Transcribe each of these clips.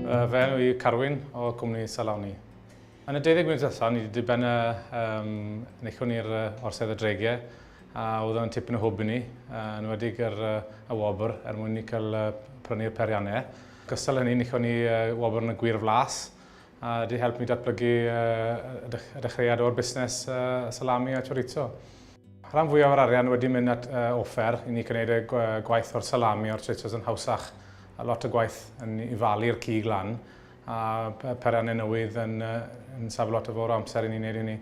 Fy enw i Carwyn o Cwmni Saloni. Yn y 20 munud allan, ni wedi diben y um, nechwn i'r orsedd y dreigiau a oedd yn tipyn o hwb i ni, uh, yn wedi gyr uh, y wobr er mwyn ni cael uh, prynu'r periannau. Gystal hynny, nechwn ni uh, wobr yn y gwir flas, a wedi helpu mi datblygu y dechreuad o'r busnes salami a chorizo. Rhan fwyaf o'r arian wedi mynd at offer i ni gwneud y gwaith o'r salami a'r chorizo's yn hawsach a lot o gwaith yn i falu'r cig lan a perynnau newydd yn safio lot o fawr o amser i ni wneud hynny.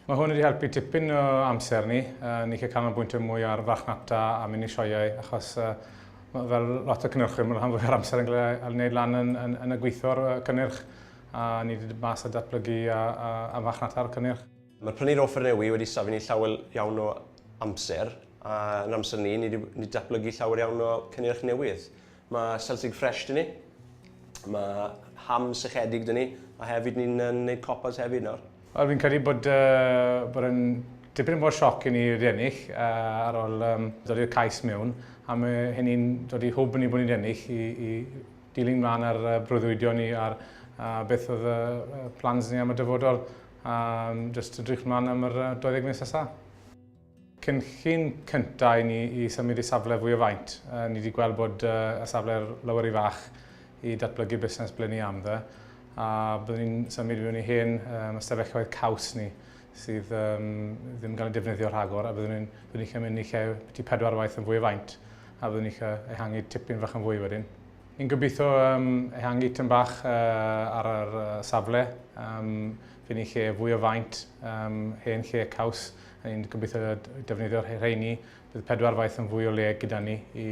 Mae hwn wedi helpu tipyn o amser ni. Ni'n gallu canolbwyntio mwy ar farchnata a mynd i sioeau achos fel lot o cynnyrchwyr mae'n rhan fwyaf amser yn cael ei wneud lan yn, yn, yn y gweithio'r cynnyrch a ni wedi dod mas a datblygu a, a, a farchnata'r cynnyrch. Mae'r prynu'r offer newi wedi safio ni llawer iawn o amser a yn amser ni, ni wedi datblygu llawer iawn o cynnyrch newydd. Mae Celtic Fresh dyn ni. Mae ham sychedig dyn ni. A hefyd ni'n gwneud copas hefyd nawr. Wel, fi'n credu bod, uh, bod yn dipyn mor sioc i ni wedi ennill uh, ar ôl um, dod i'r cais mewn. A mae hynny'n dod i hwb ni bod ni'n ennill i, i dilyn mlaen ar uh, brwydwydio ni ar uh, beth oedd uh, plans ni am y dyfodol. Um, just edrych mlaen am yr uh, 20 mis nesaf. Cynllun cyntaf i ni i symud i safle fwy o faint. Ni wedi gweld bod y safle lower rhy fach i datblygu busnes ble ni am dde, a byddwn ni'n symud mewn i hen ystafelloedd caws ni sydd ddim yn cael ei defnyddio rhagor, a byddwn ni'n byddwn ni'n mynd i lle ti pedwar waith yn fwy o faint, a byddwn ni'n cael ehangu tipyn fach yn fwy wedyn. Ni'n gobeithio ehangu tyn bach ar yr safle, fydd ni'n lle fwy o faint, hen lle caws, Ni'n gobeithio defnyddio rheini, bydd pedwar faith yn fwy o le gyda ni i,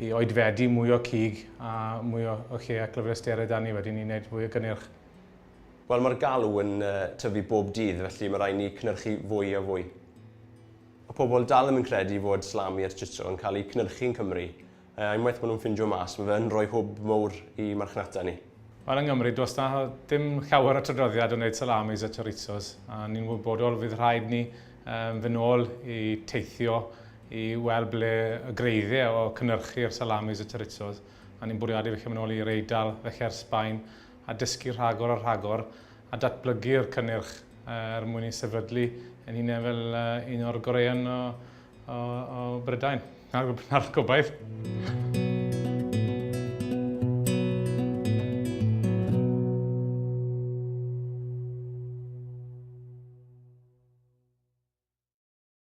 i oedfedu mwy o cig a mwy o, o lle ac lyfrestered a ni wedyn ni'n gwneud fwy o gynnyrch. Wel, mae'r galw yn uh, tyfu bob dydd, felly mae rhaid ni cynyrchu fwy a fwy. Mae pobl dal ddim yn credu fod slami a strutto yn cael eu cynyrchu yn Cymru, Yy, unwaith maen nhw'n ffindio mas, mae fe yn rhoi hwb mowr i marchnata ni. Wel, yng Nghymru, does da dim llawer o tradroddiad o wneud salamis a chorizos, a ni'n wybodol fydd rhaid ni um, fy nôl i teithio i weld ble y greiddiau o cynnyrchu'r salamis a chorizos, a ni'n bwriadu fy mynd nôl i'r Eidal, felly'r Sbaen, a dysgu rhagor ar rhagor, a datblygu'r cynnyrch uh, er mwyn i sefydlu yn hunain fel uh, un o'r goreuon o, o, o Brydain. Na'r, na'r gobaith.